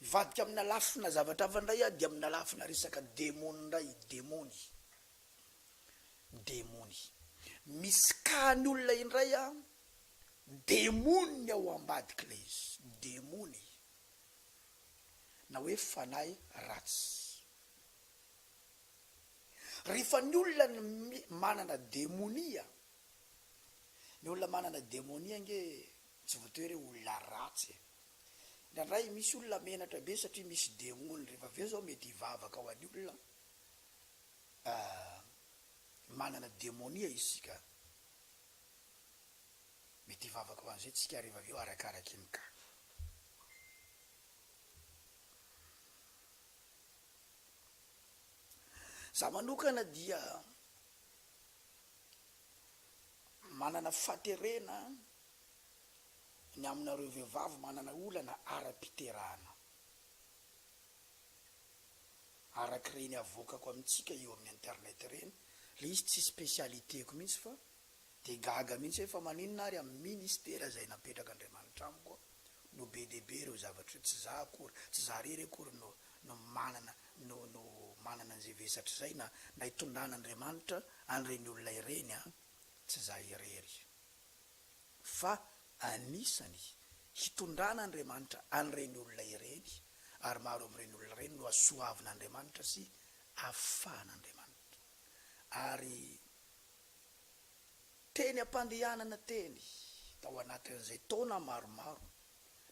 Mivadika amina lafina zavatra hafa indray aho dia amina lafina resaka demony indray, demony, demony. Misy kahany olona indray an, demony ao ambadika ilay izy, demony na hoe fanahy ratsy. Rehefa ny olona manana demonia, ny olona manana demonia ange Tsy voatery hoe olona ratsy e! Indraindray misy olona menatra be satria misy demony, rehefa avy eo zao mety hivavaka ho an'ny olona manana demonia isika, mety hivavaka ho an'izay tsika rehefa avy eo arakaraky ny cas. Za manokana dia manana faterena ny aminareo vehivavy manana olana ara-piterahana. Araka ireny avoakako amintsika eo amin'ny internet ireny, ilay izy tsy spécialité-ko mihitsy fa dia gaga mihitsy aho fa maninona ary amin'ny ministera izay napetraka Andriamanitra amiko no be dia be ireo zavatra ireo, tsy za akory, tsy za irery akory no no manana no no manana an'izay vesatra izay na na itondran'Andriamanitra an'ireny olona ireny an! Tsy za irery. fa anisany hitondran'Andriamanitra an'ireny olona ireny ary maro amin'ireny olona ireny no hasoavin'Andriamanitra sy hafahan'Andriamanitra. Ary teny am-pandehanana teny tao anatin'izay taona maromaro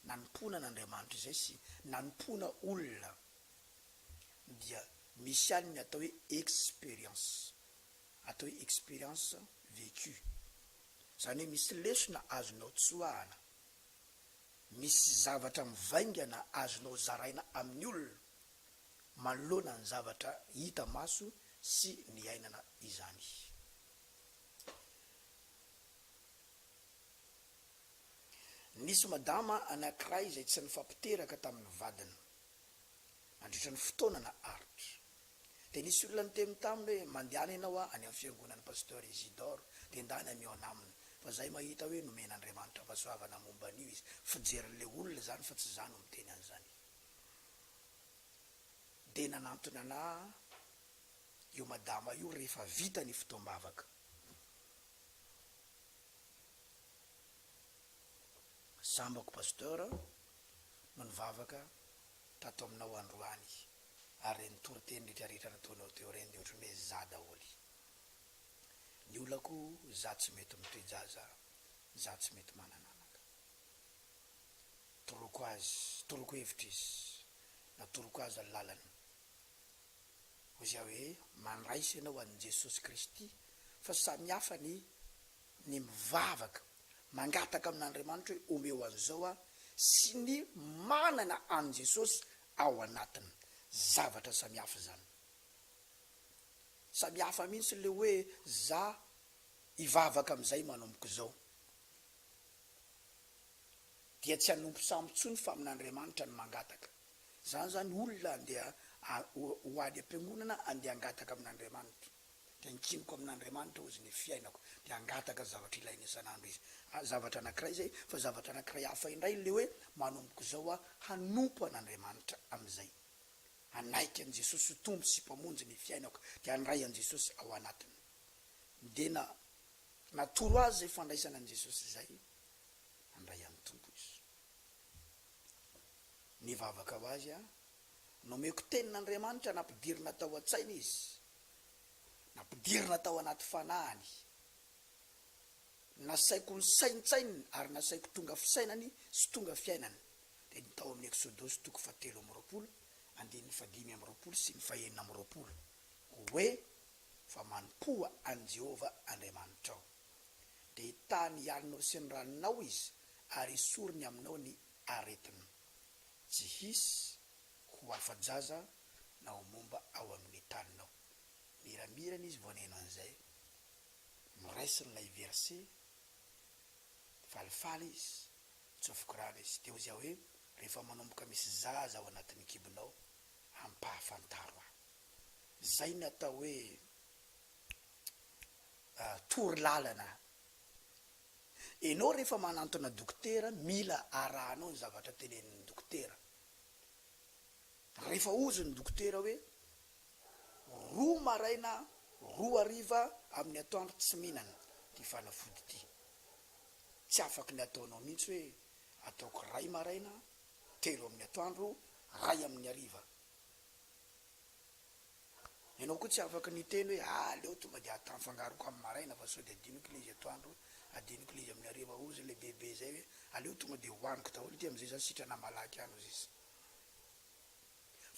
nanompoana an'Andriamanitra izay sy nanompoana olona dia misy ihany ny atao hoe expérience atao hoe expérience vécue, izany hoe misy lesona azonao tsoahana, misy zavatra mivaingana azonao zaraina amin'ny olona manoloana ny zavatra hita maso sy niainana izany. Nisy madama anankiray izay tsy nifampiteraka tamin'ny vadiny nandritra ny fotoana naharitra. Dia nisy olona niteny taminy hoe, Mandehana ianao any amin'ny fiangonan'i Pasteur Isidore, dia ndana mihaona aminy, fa zay mahita hoe nomen'Andriamanitra fahasoavana momba an'io izy, fijerin'ilay olona izany fa tsy za no miteny an'izany. Dia nanantona anah io madama io rehefa vita ny fotoam-bavaka. Sambako Pasteur no nivavaka tato aminao androany. ary reny toriteny rehetra rehetra nataonao teo reny de otrany hoe za daholy ny olako za tsy mety mitoejaza za tsy mety manana anaka toroko azy toroko hevitra izy na toroko azy ny lalany hoy za hoe mandraisa ianao an'i Jesosy Kristy fa samy hafa ny ny mivavaka mangataka amin'Andriamanitra hoe omeo an'izao aho sy ny manana an'i Jesosy ao anatiny zavatra samihafa izany. Samihafa mihintsy le hoe za hivavaka amizay manomboka izao dia tsy hanompo samy tsony fa amin'Andriamanitra no mangataka. Zany zany olona andeha ho any ampiangonana andeha hangataka amin'Andriamanitra. dia ankiniko amin'Andriamanitra hozy ny fiainako, dia hangataka ny zavatra ilainy isan'andro izy, zavatra anankiray izay, fa zavatra anankiray hafa indray ilay hoe manomboka izao aho hanompo an'Andriamanitra amin'izay, hanaiky an'i Jesosy ho Tompo sy Mpamonjy ny fiainako, dia handray an'i Jesosy ao anatiny. Dia na, natoro azy izay fandraisana an'i Jesosy izay, handray an'i Tompo izy. Nivavaka ho azy aho, Nomeko tenin'Andriamanitra nampidirina tao an-tsainy izy, nampidirina tao anaty fanahiny. Nasaiko nisaintsaininy ary nasaiko tonga fisainany sy tonga fiainany dia ny tao amin'ny Eksodosy toko fahatelo amby roapolo, andininy fahadimy amby roapolo sy ny fahenina amby roapolo, hoe, Fa manompoa an'i Jehovah Andriamanitrao. Dia hitaha ny alinao sy ny ranonao izy ary hisorony aminao ny aretinao. tsy hisy ho afa-jaza na ho momba ao amin'ny taninao. Miramirana izy vao nihaino an'izay. Noraisiny ilay verse, falifaly izy, nitsofoka rano izy. Dia hozy aho hoe, Rehefa manomboka misy zaza ao anatin'ny kibonao, ampahafantaro ahy. Izay no atao hoe tory lalana Enao rehefa manantona dokotera mila arahanao ny zavatra tenenin'ny dokotera. Rehefa ozy ny dokotera hoe roa maraina roa hariva amin'ny atoandro tsy mihinana ity fanafody ity. Tsy afaky ny ataonao mihitsy hoe ataoko ray maraina, telo amin'ny atoandro, ray amin'ny hariva. Ianao koa tsy afaka niteny hoe aleo tonga dia atao afangaroko amin'ny maraina fa sao dia adinoko ilay izy atoandro, adinoko ilay izy amin'ny hariva ozy ilay bebe izay hoe aleo tonga dia hohaniko daholo ity amin'izay za sitrana malaky any ozy izy.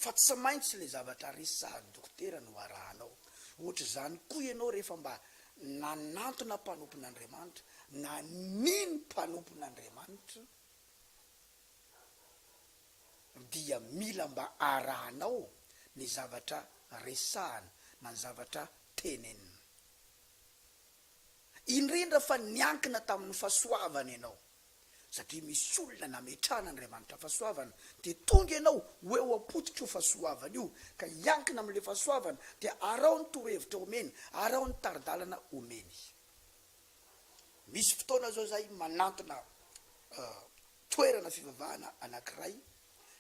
Fa tsy maintsy ilay zavatra resy sahaza dokotera no arahanao. Ohatr'izany koa ianao rehefa mba nanantona mpanompon'Andriamanitra na nino mpanompon'Andriamanitra. dia mila mba arahanao ny zavatra resahana na ny zavatra tenenina. Indrindra fa niankina tamin'ny fahasoavana ianao, satria misy olona nametrahan'Andriamanitra fahasoavana, dia tonga ianao ho eo am-pototro fahasoavana io, ka hiankina amin'ilay fahasoavana, dia araho ny torohevitra omeny, araho ny tari-dalana omeny. Misy fotoana izao izahay manantona toerana fivavahana anankiray,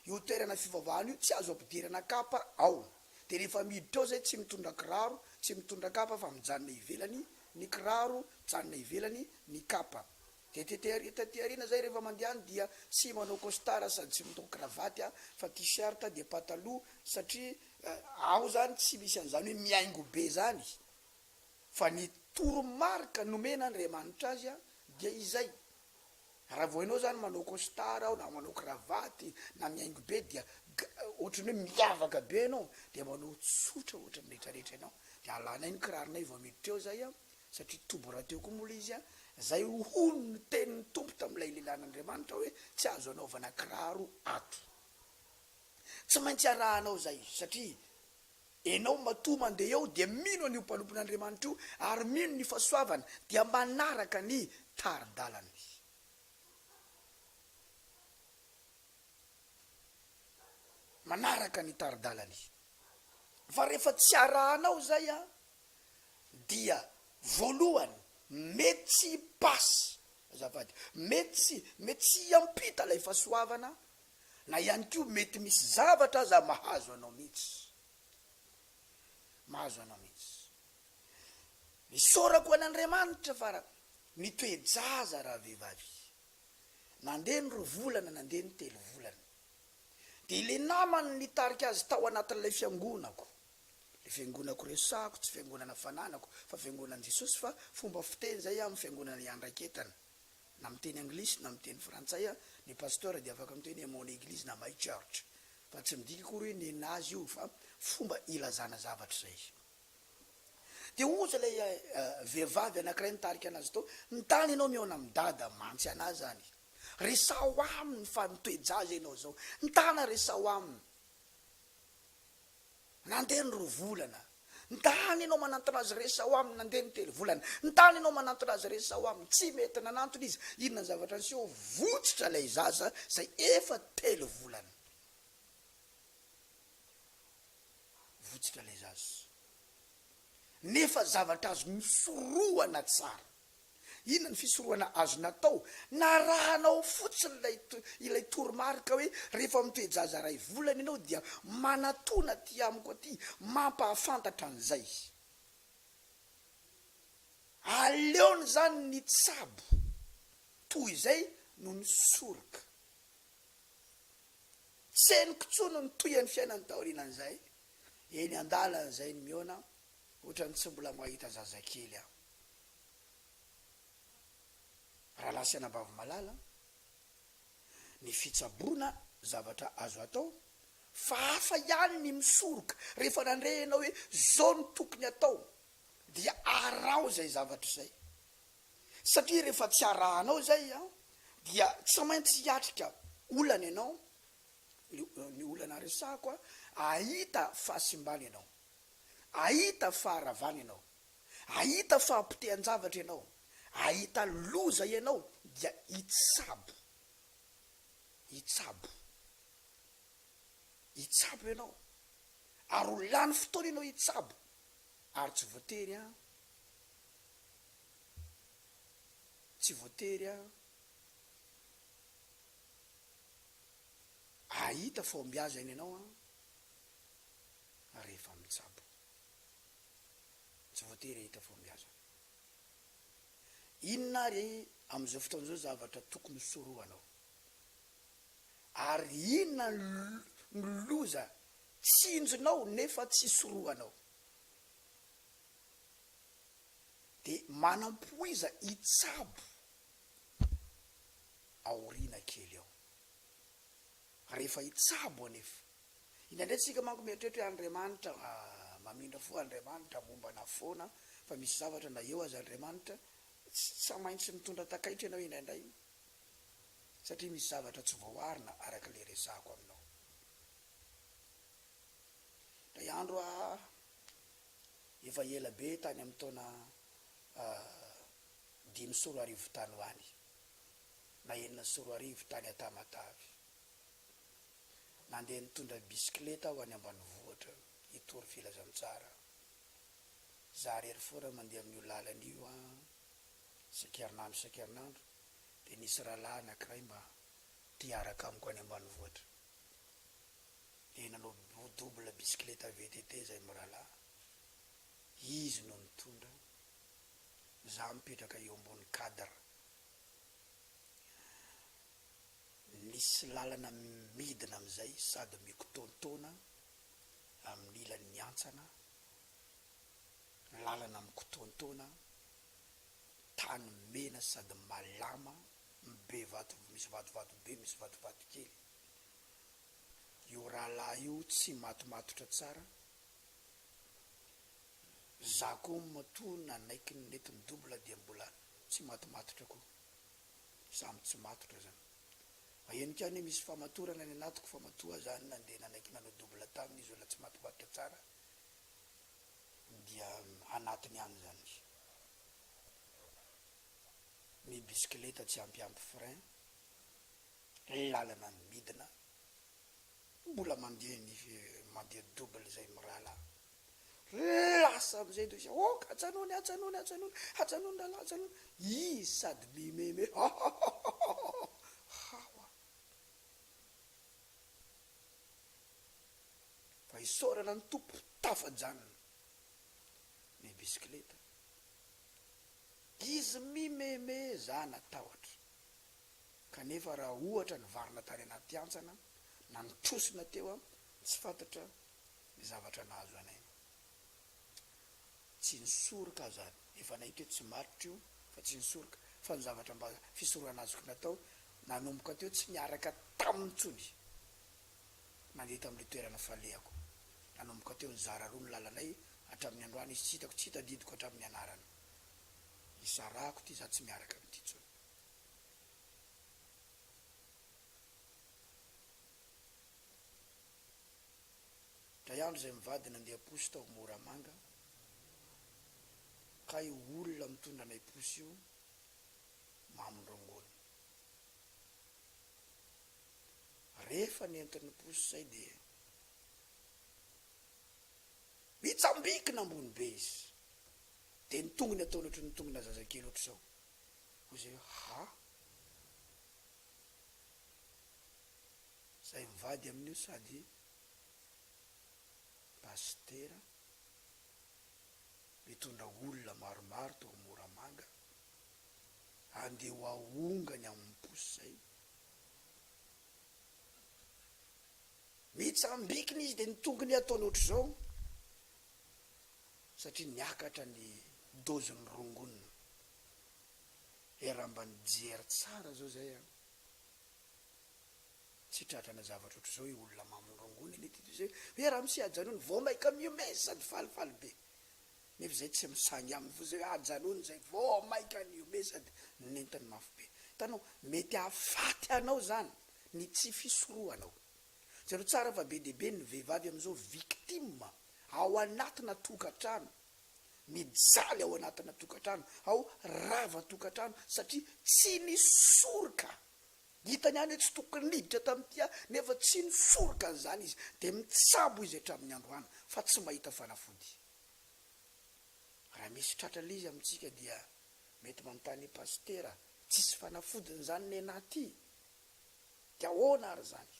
io toerana fivavahana io tsy azo ampidirana kapa ao, dia rehefa miditra ao izay tsy mitondra kiraro, tsy mitondra kapa fa mijanona ivelany ny kiraro, mijanona ivelany ny kapa, dia tety ary taty aoriana izay rehefa mandehana dia tsy manao costard sady tsy mitao kravaty a fa tee-shirt dia pataloha satria ao izany tsy misy an'izany hoe mihaingo be izany fa ny toro-marika nomena Andriamanitra azy dia izay. Raha vao enao zany manao costard ao na manao cravate na mihaingo be dia ohatran'ny hoe miavaka be enao dia manao tsotra ohatran'ny retraretra enao de alanay ny kiraronay vao miditra eo zay an satria toby rahateo koa moa le izy an zay hono ny tenin'ny Tompo tamin'ilay lehilahin'Andriamanitra hoe tsy azo anaovana kiraro ato tsy maintsy arahanao zay satria Enao matoa mandeha eo dia mino an'io mpanompon'Andriamanitra io ary mino ny fasoavany dia manaraka ny tari-dalany. Manaraka ny tari-dalany. Fa rehefa tsy arahanao izay an, dia voalohany mety tsy hi-pass azafady, mety tsy, mety tsy hiampita ilay fasoavana na ihany koa mety misy zavatra aza mahazo anao mihitsy, mahazo anao mihitsy. Isaorako an'Andriamanitra fa nitoe-jaza ravehivavy, nandeha ny roa volana, nandeha ny telo volana, dia ilay namany nitarika azy tao anatin'ilay fiangonako, ilay fiangonako resahako tsy fiangonana fananako fa fiangonan'i Jesosy fa fomba fiteny izay amin'ny fiangonana iandraiketana, na miteny anglisy na miteny frantsay a, ny pasteur dia afaka miteny hoe mon eglise na my church fa tsy midika akory hoe nenazy io fa fomba ilazana zavatra izay izy. Dia oza ilay vehivavy anankiray nitarika anazy tao, ny tany ianao mihaona amin'i dada mantsy anà izany, resaho aminy fa mitoe-jaza ianao izao, ny tana resaho aminy. Nandeha ny roa volana. Nitana ianao manantona azy Resaho aminy Nandeha ny telo volana. Nitana ianao manantona azy Resaho aminy Tsy mety nanantona izy Inona ny zavatra niseho Votsitra ilay zaza izay efa telo volana Votsitra ilay zaza Nefa zavatra azo nosorohana tsara. Inona ny fisorohana azony atao? Na arahanao fotsiny ilay ilay toromarika hoe rehefa mitoe-jaza iray volana ianao dia manatona aty amiko aty mampahafantatra an'izay izy. Aleony izany ny tsabo toy izay no ny soroka. Tsy henoko intsony ny tohin'ny fiainany taorianan'izay. Eny an-dalana izay ny mihaona, ohatran'ny tsy mbola mahita zazakely aho. Ralasana Bavomalala, Ny fitsaboana zavatra azo atao fa hafa ihany ny misoroka rehefa nandre ianao hoe zao no tokony atao dia araho izay zavatra izay satria rehefa tsy arahanao izay dia tsy maintsy hiatrika olana ianao, ny olana resahako hahita fahasimbana ianao, hahita faharavana ianao. Ahita fahapotehan-javatra ianao, ahita loza ianao dia hitsabo. Hitsabo. Hitsabo ianao. Ary ho lany fotoana ianao hitsabo. Ary tsy voatery an. Tsy voatery an. Ahita fahombiazana ianao an. Rehefa mitsabo. Tsy voatery hahita fahombiazana. Inona ary amin'izao fotoana izao zavatra tokony hosorohanao? Ary inona no loza tsinjonao nefa tsy sorohanao? Dia manam-poiza hitsabo aoriana kely ao. Fa rehefa hitsabo anefa. Indraindray tsika manko mieritreritra hoe Andriamanitra mamindra fo, Andriamanitra mombana foana fa misy zavatra na eo aza Andriamanitra tsa maintsy mitondra takaitra ianao indraindray satria misy zavatra tsy voaarina araka ilay resahako aminao indray andro aho efa ela be tany amin'ny taona dimy sy roa arivo tany ho any na enina sy roa arivo tany Antamatave. Nandeha nitondra bisikileta aho any ambanivohitra hitory filazantsara. Izaho irery foana mandeha amin'io lalana io an! Isan-kerinandro isan-kerinandro dia nisy rahalahy anankiray mba te hiaraka amiko any ambanivohitra. Dia nanao double bisikileta VTT izay mirahalahy. Izy no nitondra. Izaho mipetraka eo ambony cadre Nisy lalana midina amin'izay sady mikotontoana amin'ny ilan'ny hantsana, lalana mikotontoana, tany mena sady malama, be vato, misy vatovato be, misy vatovato kely. Io rahalahy io tsy matomatotra tsara Za ko matoa nanaiky ny nety mi-double dia mbola tsy matomatotra ko. Za mo tsy matotra zan. Mahenika any hoe misy famatorana any anatiko fa matoa za nandeha nanaiky nanao double taminy izy olona tsy matomatotra tsara dia anatiny any zan izy. Ny bisikileta tsy ampy ampy frein, lalana midina. Mbola mandeha ny mandeha double zay mirahalahy. Lasa amizay indray izy ok ajanony ajanony ajanony ajanony ralah ajanony izy sady mimeme hahahahahahah hawa fa isaorana ny Tompo tafajanona ny bisikileta izy mimeme za natahotra. Kanefa raha ohatra nivarina tany anaty hantsana na nitrosona teo an, tsy fantatra ny zavatra nahazo anay. Tsy ny soroka aza efa nahita hoe tsy matotra io fa tsy ny soroka fa ny zavatra mba fisorohana azoky natao nanomboka teo tsy niaraka taminy intsony nandeha tamin'ilay toerana falehako. Nanomboka teo nizara roa ny lalanay hatramin'ny androany izy tsy hitako tsy tadidiko hatramin'ny anarana. Nisarahako ity za tsy miaraka amin'ity intsony. Dray andro izay mivady nandeha posy tao Moramanga ka io olona mitondra anay posy io mamin'ny rongony. Rehefa nentin'ny posy izay dia nitsambikina ambony be izy dia ny tongony ataony ohatry ny tongona zazakely ohatr'izao. Hoy izay hoe, Ha? Izay mivady amin'io sady pasitera, mitondra olona maromaro tao Moramanga, andeha ho ahongany amin'ny posy izay. Mitsambikina izy dia ny tongony ataony ohatr'izao. satria niakatra ny dozin'ny rongony e raha mba nijery tsara zao zay an tsy tratrana zavatra otrzao io olona mamin'ny rongony anie ty toy zay hoe ramose ajanony vao maika mihomehy sady falifaly be nefa zay tsy misangy aminy fa zay hoe ajanony zay vao maika nihomehy sady nentiny mafy be hitanao mety hahafaty anao zany ny tsy fisorohanao Jereo tsara fa be dia be ny vehivavy amin'izao victime ao anatina tokantrano, mijaly ao anatina tokantrano ao rava-tokantrano satria tsy nisoroka, hitany any hoe tsy tokony niditra tamin'ity aho nefa tsy nisoroka an'izany izy dia mitsabo izy hatramin'ny androany fa tsy mahita fanafody. Raha misy tratra lzy amintsika dia mety manontany pasitera, tsisy fanafodiny izany nenah ty? De ahoana ary zany?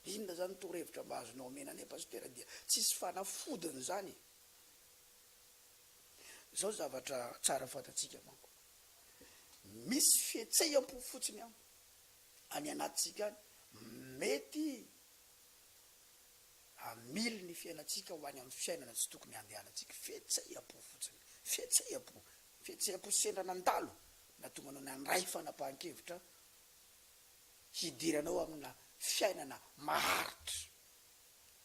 Inona zany torohevitra mba azonao omena anay Pasitera dia tsisy fanafodiny zany e! Zao zavatra tsara fantatsika manko, misy fihetseham-po fotsiny an, any anatintsika any mety hamily ny fiainantsika ho any amin'ny fiainana tsy tokony handehanantsika, fihetseham-po fotsiny, fihetseham-po, Fihetseham-po sy sendra nandalo nahatonga anao nandray fanapahan-kevitra hidiranao amina fiainana maharitra.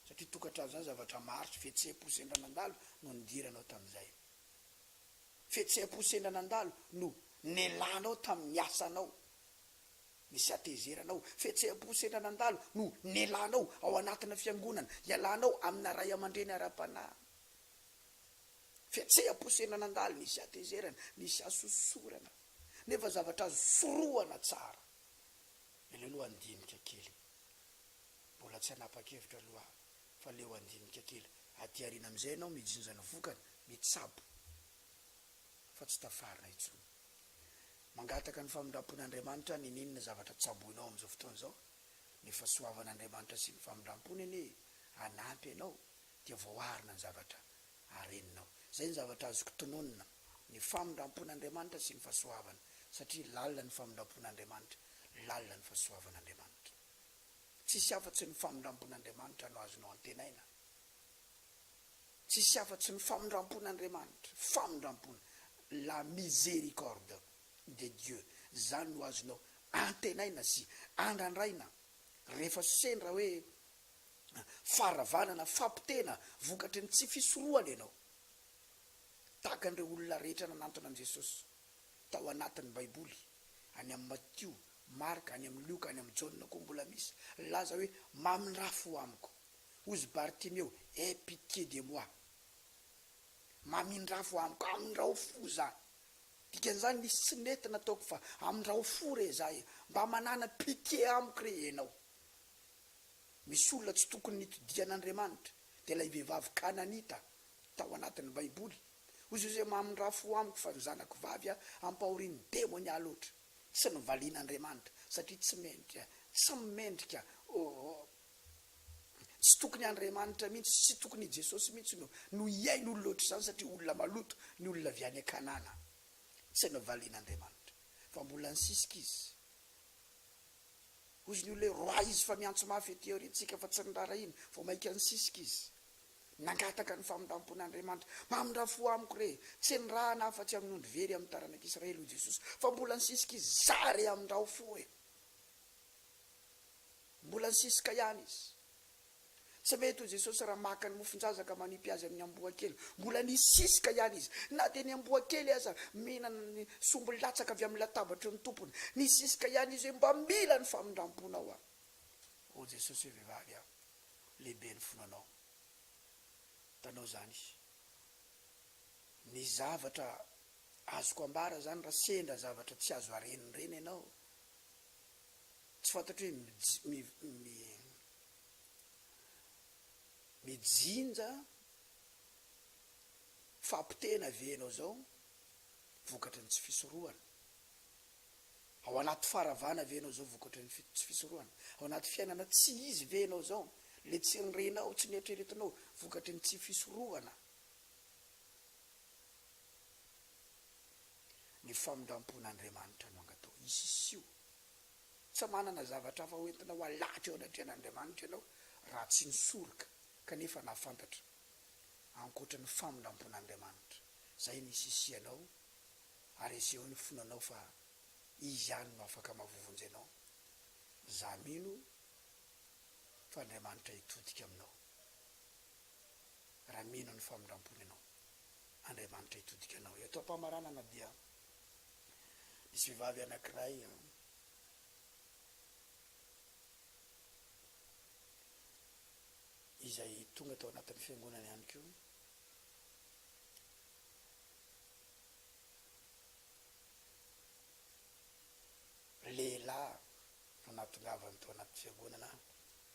Satria tokantrano izany zavatra maharitra, fihetseham-po sendra nandalo no nidiranao tamin'izay. Fihetseham-po sendra nandalo no nelanao tamin'ny asanao, nisy hatezeranao. Fihetseham-po sendra nandalo no nelanao ao anatina fiangonana, ialanao amina ray aman-dreny ara-panahy. Fihetseham-po sy aina nandalo nisy hatezerana, nisy hasosorana, nefa zavatra azo sorohana tsara. Ilay lohandinika kely. Mbola tsy hanapa-kevitra aloha aho, fa leo handinika kely. Aty aoriana amin'izay ianao mijinja ny vokany, mitsabo, fa tsy tafarina intsony. Mangataka ny famindram-pon'Andriamanitra aho n'inon'inona zavatra tsaboinao amin'izao fotoana izao. Ny fahasoavan'Andriamanitra sy ny famindram-pony anie hanampy anao dia voaarina ny zavatra areninao. Izay ny zavatra azoko tononina, ny famindrampon'Andriamanitra sy ny fahasoavana, satria lalina ny famindrampon'Andriamanitra, lalina ny fahasoavan'Andriamanitra. Tsisy afa-tsy ny famindrampon'Andriamanitra no azonao antenaina. Tsisy afa-tsy ny famindrampon'Andriamanitra, famindrampona, la miséricorde de Dieu, izany no azonao antenaina sy andrandraina rehefa sendra hoe faharavanana, fampitena vokatry ny tsy fisorohana ianao, tahaka an'ireo olona rehetra nanantona an'i Jesosy tao anatin'ny Baiboly, any amin'i Matio, Marka, any amin'i Lioka, any amin'i Jaona koa mbola misy. Nilaza hoe, Mamindrafy ho amiko, hozy Bartimeo, aie pitié de moi, mamindrafy ho amiko, amindrao fo izaho. Dikan'izany, nisy tsy nety nataoko fa amindrao fo re izaho e, mba manana pitié amiko re ianao. Misy olona tsy tokony nitodihan'Andriamanitra, dia ilay vehivavy Kananita tao anatin'ny Baiboly. Hoy Josia, Mamindrà fo amiko fa ny zanako vavy ampahorian'ny demonia loatra. Tsy novalian'Andriamanitra, satria tsy mendrika, tsy mendrika, oh, tsy tokony Andriamanitra mihitsy, tsy tokony i Jesosy mihitsy no, no hihaino olona ohatr'izany, satria olona maloto ny olona avy any Kanana. Tsy novalian'Andriamanitra, fa mbola nisisika izy. Hozy ny olona hoe, Roahy izy fa miantso mafy ety aoriantsika fa tsy niraharahiana, vao mainka nisisika izy. Nangataka ny famindram-pon'Andriamanitra. Mamindra fo amiko re, tsy enirahana afa-tsy amin'ny ondry very amin'ny taranak'Israely, hoy Jesosy, fa mbola nisisika izy, Izaho re, amindrao fo e! Mbola nisisika ihany izy. Sa ve toy Jesosy raha maka ny mofon-jaza ka manipy azy amin'ny amboa kely? Mbola nisiska ihany izy. Na dia ny amboa kely aza mihinana ny sombiny latsaka avy amin'ny latabatry ny tompony. Nisiska ihany izy hoe, Mba mila ny famindram-ponao aho. Hoy Jesosy hoe, Vehivavy a, lehibe ny finoa anao. Hitanao izany? Ny zavatra azoko ambara izany, raha sendra zavatra tsy azo aren'ireny ianao, Tsy fantatro hoe mijinja fahapotehana ve ianao izao vokatry ny tsy fisorohana? Ao anaty faharavana ve ianao izao vokatry ny tsy fisorohana? Ao anaty fiainana tsy izy ve ianao izao? Ilay tsy nirenao, tsy nieritreretinao vokatry ny tsy fisorohana? ny famindrampon'Andriamanitra no angataho hisisiho. Tsy manana zavatra hafa hoentina ho halatra eo anatrehan'Andriamanitra ianao raha tsy ny soroka kanefa nahafantatra ankoatra ny famindrampon'Andriamanitra. Izay no hisisihanao ary asehoy ny fonanao fa Izy ihany no afaka mahavovonjy anao. Izaho mino fa Andriamanitra hitodika aminao raha mino ny famindrampony ianao. Andriamanitra hitodika anao. Eto am-pamaranana dia misy vehivavy anankiray izay tonga tao anatin'ny fiangonana ihany koa, lehilahy no nahatongavany tao anaty fiangonana,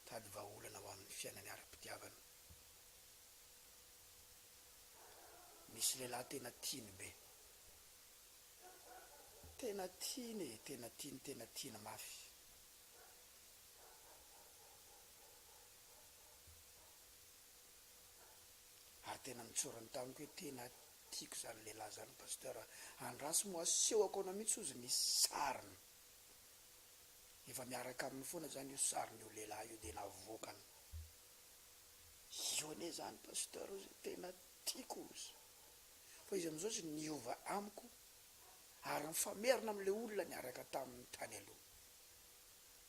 tady vahaolana ho amin'ny fiainany ara-pitiavana. Misy lehilahy tena tiany be. Tena tiany e, tena tiany, tena tiany mafy. Ary tena nitsorany tamiko hoe tena tiako izany lehilahy izany Pasteur a. Andraso moa asehoko anao mihitsy hozy ny sariny. Efa miaraka aminy foana izany io sarin'io lehilahy io dia navoakany. Io anie zany Pasteur o zay tena tiako ozy fa izy amizao ozy niova amiko ary mifamerina am le olona niaraka taminy tany aloha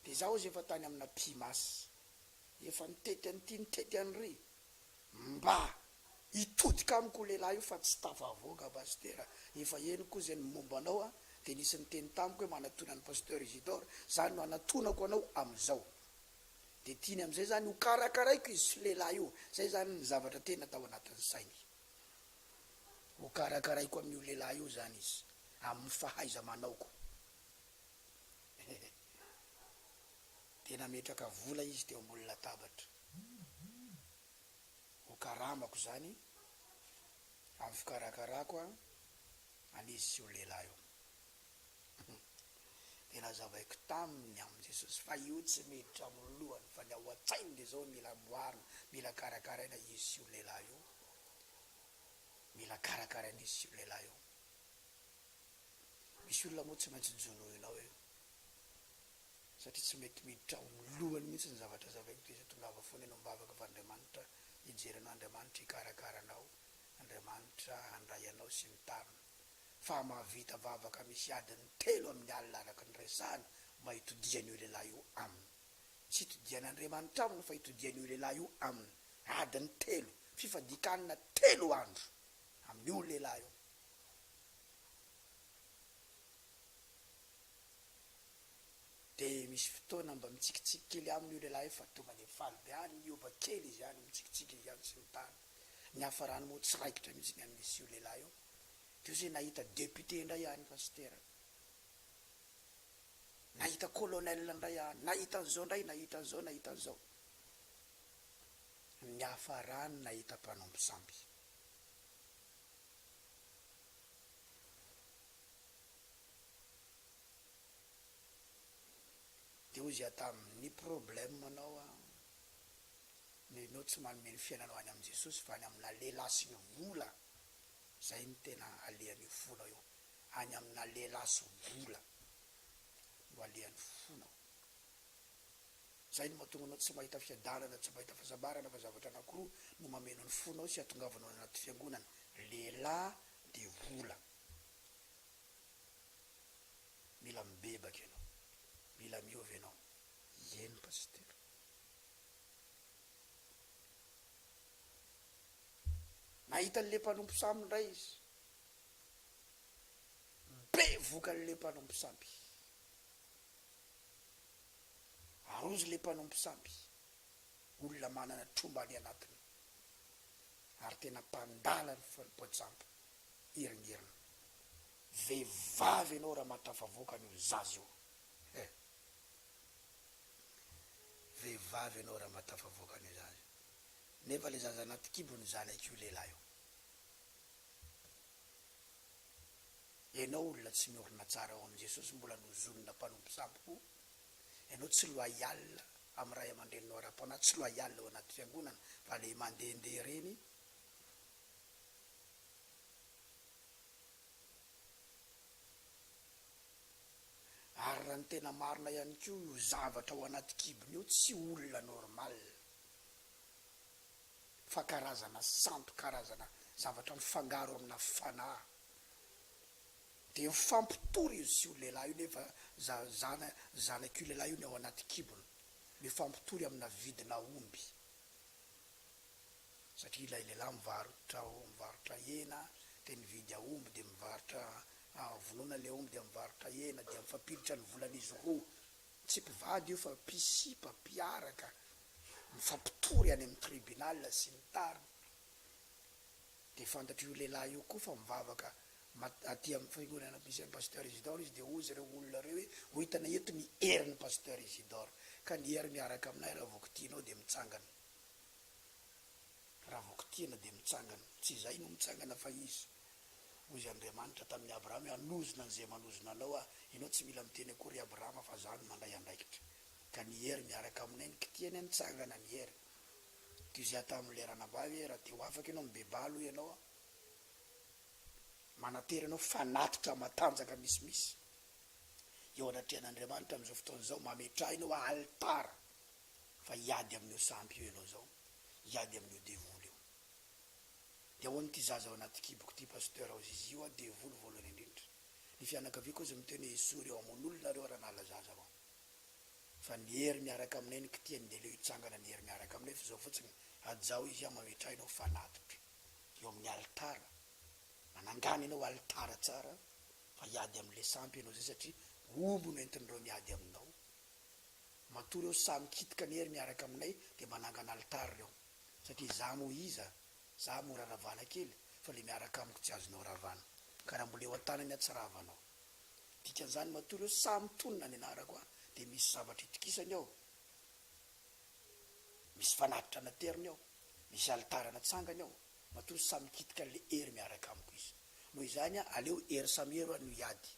de za ozy efa tany amina pimas efa nitety an'ity nitety an'ry mba hitodika amiko lehilahy io fa tsy tafavoaka Pastera efa henoko ozy ny momba anao a de nisy niteny tamiko hoe manatona an'i Pasteur Isidore zany no anatonako anao amizao. dia tiany amin'izay izany ho karakaraiko izy sy io lehilahy io, izay izany ny zavatra tena tao anatin'ny sainy, ho karakaraiko amin'io lehilahy io izany izy amin'ny fahaiza-manaoko. Dia nametraka vola izy teo ambony latabatra, ho karamako izany amin'ny fikarakarako an An izy sy io lehilahy io. Dia nazavaiko taminy amin'i Jesosy fa io tsy miditra ao amin'ny lohany fa ny ao an-tsainy dia izao mila amboarina, mila karakaraina izy sy io lehilahy io. Mila karakaraina izy sy io lehilahy io. Misy olona moa tsy maintsy jonoinao e. Satria tsy mety miditra ao amin'ny lohany mihitsy ny zavatra zavaiko dia izay tongava foana eny am-bavaka fa Andriamanitra hijery anao, Andriamanitra hikarakara anao, Andriamanitra handray anao sy ny tariny fa mahavita vavaka misy adiny telo amin'ny alina araka ny resahana mba hitodihan'io lehilahy io aminy. Tsy hitodihan'Andriamanitra aminy fa hitodihan'io lehilahy io aminy adiny telo, fifadian-kanina telo andro amin'io lehilahy io. Dia misy fotoana mba mitsikitsiky kely aminy io lehilahy io fa tonga dia faly be any mihoba kely izy any, mitsikitsiky izy any sy ny tariny. ny hafarany moa tsy raikitra mihitsy ny amin'izy io lehilahy io, teo zay nahita député indray aho nefa tsy teraka, nahita colonel indray aho, nahita an'izao indray, nahita an'izao, nahita an'izao, ny hafarany nahita mpanompo sampy. Dia hoy izy aho taminy, ny problème-nao an, no enao tsy manome ny fiainanao any amin'i Jesosy fa any amina lehilahy sy ny vola, zay no tena alehan'io fonao io, any amina lehilahy sy vola no alehan'ny fonao, zay no mahatonga anao tsy mahita fiadanana, tsy mahita fahasambarana fa zavatra anakiroa no mameno ny fonao sy atongavanao any anaty fiangonana, lehilahy dia vola, mila mibebaka enao, mila miova enao, ieny Pasitera. Nahita an'ilay mpanompo sampy indray izy. Bevoka an'ilay mpanompo sampy. Arozo ilay mpanompo sampy. Olona manana tromba any anatiny ary tena mpandala ny foim-poajampy iringiriny. Vehivavy ianao raha mahatafavoaka an'io zaza io eh! Vehivavy ianao raha mba tafavoaka an'io zaza io. Nefa le zaza anaty kibony zanak'io lehilahy io. Ianao olona tsy miorina tsara ao amin'i Jesosy mbola nozonina mpanompo sampy koa. Ianao tsy loyal amin'ny ray aman-dreninao ara-panahy, tsy loyal ao anaty fiangonana fa le mandehandeha ireny. Ary raha ny tena marina ihany koa io zavatra ao anaty kibony io tsy olona normal fa karazana santo karazana zavatra mifangaro amina fanahy dia mifampitory izy sy io lehilahy io nefa za zana zanak'io lehilahy io ny ao anaty kibony mifampitory amina vidina omby. satria ilay lehilahy mivarotra mivarotra hena dia nividy aomby dia mivarotra vonoina ilay omby dia mivarotra hena dia mifampiditra ny volan'izy roa tsy mpivady io fa mpisipa mpiaraka mifampitory any amin'ny tribunal sy ny tariny dia fantatr'io lehilahy io koa fa mivavaka mat- aty amin'ny fiangonana misy an'i pasteur Isidore izy dia hoy izy ireo olona ireo hoe ho hitanay eto ny herin'i pasteur Isidore ka ny hery miaraka aminay raha vao kitihinao dia mitsangana Raha vao kitihina dia mitsangana. Tsy izay no mitsangana fa izy. Hoy Andriamanitra tamin'i Abrahama hoe, Hanozona an'izay manozona anao Aho. Ianao tsy mila miteny akory ry Abrahama fa Izaho no mandray andraikitra. Ka ny hery miaraka aminay no kitihina, nitsangana ny hery. Toy izay ataon'ilay ranabavy hoe, Raha te ho afaka ianao, mibebaha aloha ianao an! Manantena ianao fanatitra matanjaka misimisy eo anatrehan'Andriamanitra amin'izao fotoana izao, mametraha ianao alitara. fa hiady amin'io sampy io ianao zao, hiady amin'io devoly io. Dia hoan'ny ity zaza ao anaty kiboko ity Pasteur ao Zizi io aho devoly voalohany indrindra. Ny fianakaviako aza miteny hoe Esory reo hamono olona reo raha nahala zaza avao. Fa ny hery miaraka aminay ny kitiany dia aleo hitsangana ny hery miaraka aminay fa zao fotsiny hajaho izy aho mametraha ianao fanatitra eo amin'ny alitara manangana ianao alitara tsara fa hiady amin'ilay sampy ianao zay satria omby no entin'ireo miady aminao. Matoa reo sahy mikitika anie ry miaraka aminay dia mba nangana alitara reo. Satria za moa iza? Za mora ravana kely fa le miaraka amiko tsy azonao ravana. Ka raha mbola eo an-tanany aho tsy ravanao. Dikan'izany matoa reo sahy mitonona ny anarako aho dia misy zavatra itokisany ao. Misy fanatitra nateriny ao. Misy alitara natsangany ao. Matoa sahy mikitika an'le hery miaraka amiko izy. Noho izany aho aleo hery samy hery ho'a no hiady.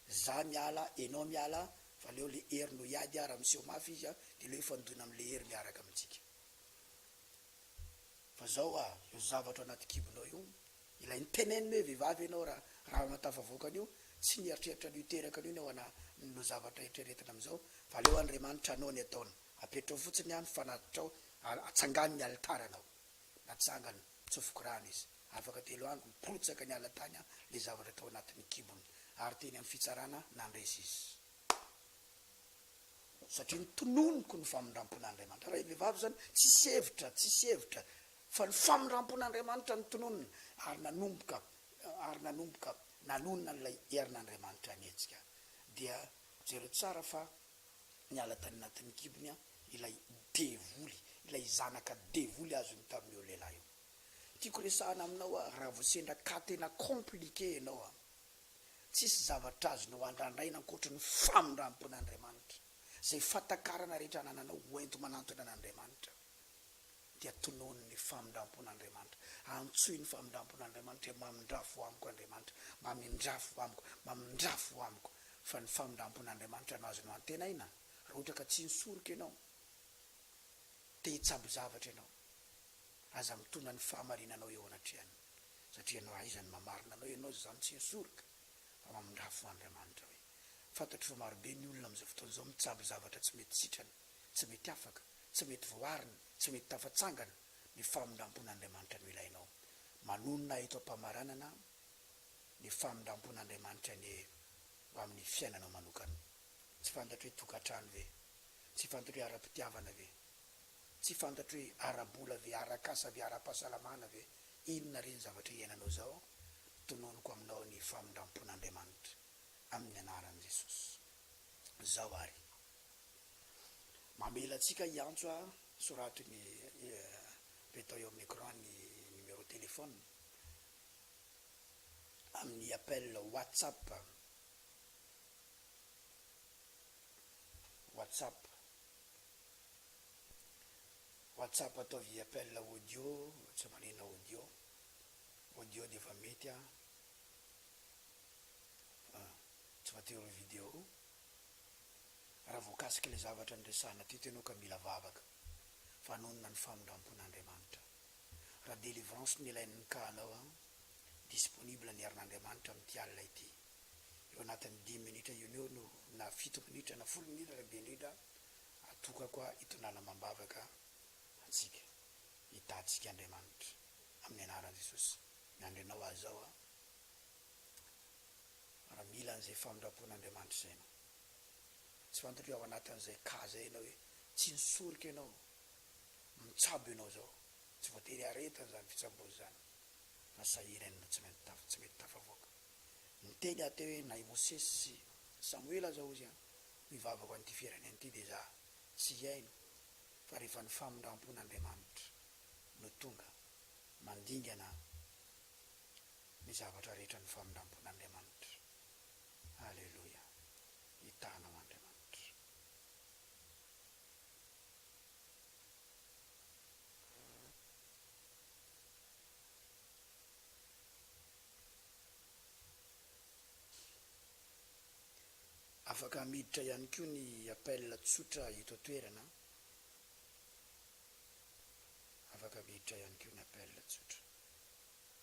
Za miala enao miala fa leo le hery no hiady a raha miseho mafy izy a de leo hifandoina am le hery miaraka amintsika fa zao a io zavatra anaty kibonao io ilay niteneniny hoe vehivavy enao ra ra anao tafavoaka anio tsy nieritreritra anio teraka anio ny ao ana no zavatra eritreretina am zao fa leo Andriamanitra anao ny ataony apetrao fotsiny a ny fanatitrao a atsangano ny alitaranao. Natsangany nitsofoko rano izy. Afaka telo andro nipotsaka niala tany le zavatra tao anatin'ny kibony ary teny amin'ny fitsarana nandresy izy. Satria notononiko ny famindrampon'Andriamanitra. Raha vehivavy izany tsisy hevitra, tsisy hevitra fa ny famindrampon'Andriamanitra no tononina ary nanomboka ary nanomboka nanonona an'ilay herin'Andriamanitra nihetsika. Dia jereo tsara fa Niala tany anatin'ny kibony ilay devoly, ilay zanaka devoly azony tamin'io lehilahy io. Tiako resahana aminao aho raha vao sendra cas tena compliqué ianao an! Tsisy zavatra azonao andrandraina ankoatry ny famindram-pon'Andriamanitra. Izay fatakarana rehetra anananao hoenti-manantona an'Andriamanitra. dia tonony ny famindrampon'Andriamanitra, antsoy ny famindrampon'Andriamanitra hoe mamindrafo amiko Andriamanitra, mamindrafo amiko, mamindrafo amiko, fa ny famindrampon'Andriamanitra no azonao antenaina, raha ohatra ka tsy nisoroka ianao, te hitsabo zavatra ianao, aza mitona ny fahamarinanao eo anatrehan'ny, satria ianao aiza no mamarina anao ianao izany tsy nisoroka, fa mamindrafo Andriamanitra hoe, fantatro fa marobe ny olona amin'izao fotoana izao mitsabo zavatra tsy mety sitrana, tsy mety afaka, tsy mety voarina, tsy mety tafatsangana ny famindrampon'Andriamanitra no ilainao. Manonona ahy eto am-pamaranana ny famindrampon'Andriamanitra anie ho amin'ny fiainanao manokana. Tsy fantatro hoe tokantrano ve? Tsy fantatro hoe ara-pitiavana ve? Tsy fantatro hoe ara-bola ve, ara-kasa ve, ara-pahasalamana ve? Inona re ny zavatra iainanao izao? Tononiko aminao ny famindrampon'Andriamanitra amin'ny anaran'i Jesosy izao ary Mamela antsika hiantso a soraty ny Betao eo amin'ny écran ny numéro téléphone amin'ny appel WhatsApp, WhatsApp, WhatsApp ataovy appel audio tsy manina audio, audio dia efa mety a, tsy voatery ho video. Raha voakasika ilay zavatra niresahana teto ianao ka mila vavaka, vanonona ny famindrampon'Andriamanitra. Raha délivrance no ilain'ny nkahanao an, disponible ny herin'Andriamanitra amin'ity alina ity. Eo anatin'ny dimy minitra io eo no na fito minitra na folo minitra raha be indrindra atokako hitondrana amam-bavaka antsika, hitahantsika Andriamanitra. Amin'ny anaran'i Jesosy miandry anao aho izao an. ary mila an'izay famindram-pon'Andriamanitra izay ianao. Tsy fantatro hoe ao anatin'izay cas izay ianao hoe tsy nisorika ianao, mitsabo ianao izao, tsy voatery aretina izany fitsaboana izany fa sahirany no tsy maintsy tafa, tsy mety tafavoaka. Niteny aho teo hoe na i Mosesy sy Samoela aza hozy an, ho hivavaka ho an'ity firenena ity dia izaho tsy hihaino fa rehefa ny famindram-pon'Andriamanitra no tonga mandingana an, ny zavatra rehetra amin'ny famindrampon'Andriamanitra. Aleloia! Hitana ao Andriamanitra. Afaka miditra ihany koa ny appel tsotra eto an-toerana an. Afaka miditra ihany koa ny appel tsotra.